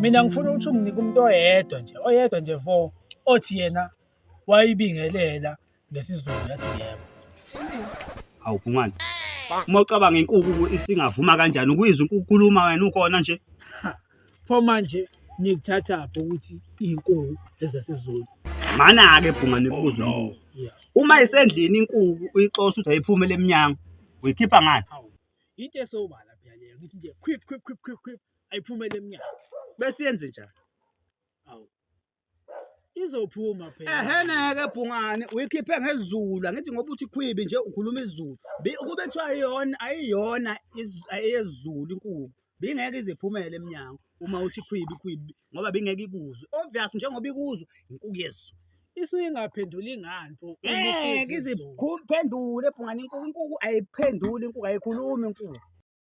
mina ngifuna ukuthi unginike umuntu oyedwa nje oyedwa nje vo othi yena wayibingelela ngesizulu yathi yebo awu bhungane uma ucabanga inkuku isingavuma kanjani ukuyizwa inkuku ukhuluma wena ukhona nje pho manje nikuthathaphi ukuthi iy'nkuku ezesizulu mana-ke bhunga nikubuza oh, umbuzo uma isendlini inkuku uyixosha ukuthi ayiphumele emnyango uyikhipha ngani into esobala phela leyo ngithi nje khwip khwip khwip khwip khwip ayiphumele emnyango bese yenze njani awu izophuma phela eheneke bhungane uyikhiphe ngezulu angithi ngoba uthi khwibi nje ukhuluma izulu Bi- ukube kuthiwa ayiyona ayiyona iz- eyezulu inkulu bingeke iziphumele emnyango uma uthi khwibi khwibi ngoba bingeke ikuzwe obvious njengoba ikuzwe inkulu yezulu isuke ingaphenduli ngani pho uma ngeke isiza izulu? iziphendule bhungane inkulu inkulu ayiphenduli inkulu ayikhulumi inkulu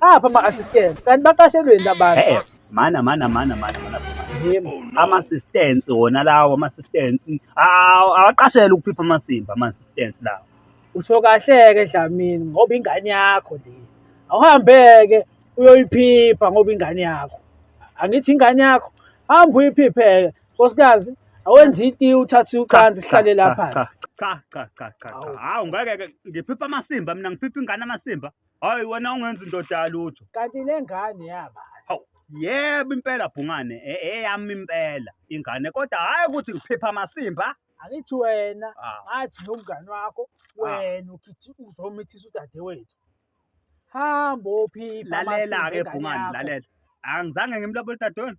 apha ama assistants kanti baqashelweni labantu hey mana mana mana mana mana ama assistants wona lawo ama assistants awaqashela ukuphipha amasimba ama assistants lawo usho kahle ke Dlamini ngoba ingane yakho le awuhambeke uyoyiphipha ngoba ingane yakho angithi ingane yakho hamba uyiphipheke nkosikazi awenzi iti uthathe ucansi sihlale lapha cha cha cha cha hawu ngeke ngiphipha amasimba mina ngiphipha ingane amasimba Hayi wena ungenza indoda yalutho. Kanti lengane yaba. Hawu, yebo impela bhungane, e- eyami impela ingane kodwa hayi ukuthi ngiphipha amasimba. Angithi wena Ah. ngathi nomngane wakho wena ukhithi uzomithisa udadewethu. Hamba ophipha Lalela-ke amasimba engane bhungane, yakho. lalela. Angizange ngimlobole dadewenu.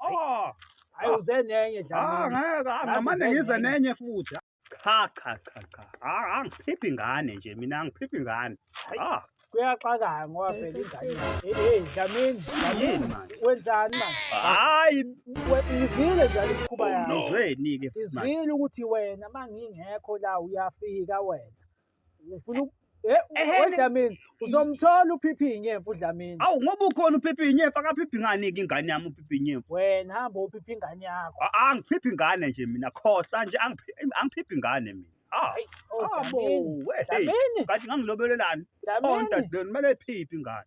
Oh, Hayi uze nenye ah, Dlamini. ngeke ah, ngamane Yazi ngize zenye. nenye futhi. Cha cha cha cha. Ah, angiphiphi ngane nje mina angiphiphi ngane. Hayi. Ah, Kuyaxakaya ngoba phela ingane. Eh, eh, Dlamini. yini manje? Wenzani manje? Hayi, We- Ngizwile njalo imikhuba Oh, yakho. uzweni ke futhi manje. Izwile ukuthi wena mangingekho la uyafika wena. Ufuna uku- Eh, Ehhe, we ni- Dlamini, uzomthola uphiphi nyemfu uDlamini. Awu ngoba ukhona uphiphi inyemfu akaphiphi ngani ke ingane yami uphiphi inyemfu. Wena hamba uphiphi ingane yakho. A- Angiphiphi ngane nje mina khohlwa nje angiphi- angiphiphi ngane mina. Ah. Hayi, oh, Abo, Dlamini. we, hey, Dlamini. kanti ngangilobelelani? Dlamini. Konta then mele iphiphi ingane.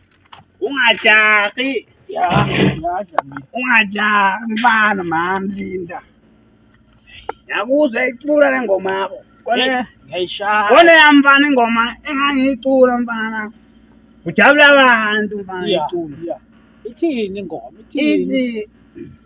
Ungajahi. Ya, yazi mina. Ungajahi mfana mami Linda. Yakuzwa icula le ngoma yakho. Kone Hey, Ngiyayishaya. kone ya mfana ingoma engangiyicula mfana. Kujabula abantu mfana Yeah, icula. yeah. Ithini ingoma? Ithini? Ithi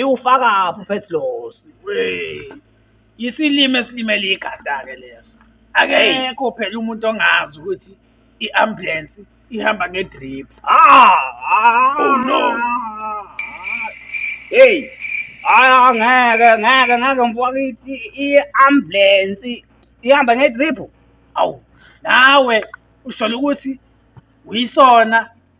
iwufakaphi ufethi losi isilimi esilimele ikhanda-ke leso akekho phela umuntu ongazi ukuthi i-ambulensi ihamba ngedrip ah, oh no heyi hayi ah, ngeke ngeke ngeke mfwakithi i-ambulensi ihamba ngedrip awu nawe usholo ukuthi uyisona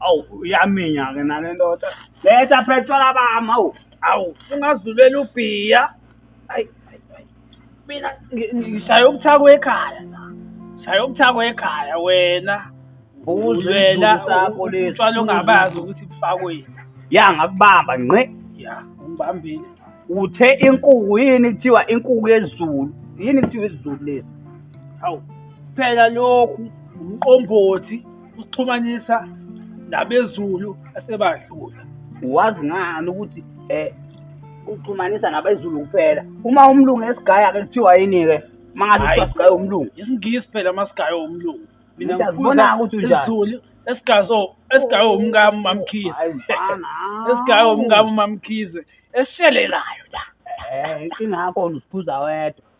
awu uyaminya-ke nale ndoda letha phetshwala bami awu awu sungazidulela ubhiya ayi mina ngishaya ubuthakwe ekhaya shaya ubuthakwe ekhaya wena uzwela utshwala ongabazi ukuthi bufakweni ya ngakubamba ngqe ya ungibambile uthe inkuku yini kuthiwa inkuku yezulu yini kuthiwa izulu lezi hawu phela lokhu umqombothi usixhumanisa nabezulu asebadlula wazi ngani ukuthi eh uxhumanisa nabezulu kuphela uma umlungu esigaya ke kuthiwa yini ke mangaze kuthiwa sigaya umlungu isingisi phela masigaya umlungu mina ngifuna ukuthi unjani izulu esigazo esigaye umkami mamkhize esigaye umkami mamkhize esishelelayo la eh ingakho usiphuza wedwa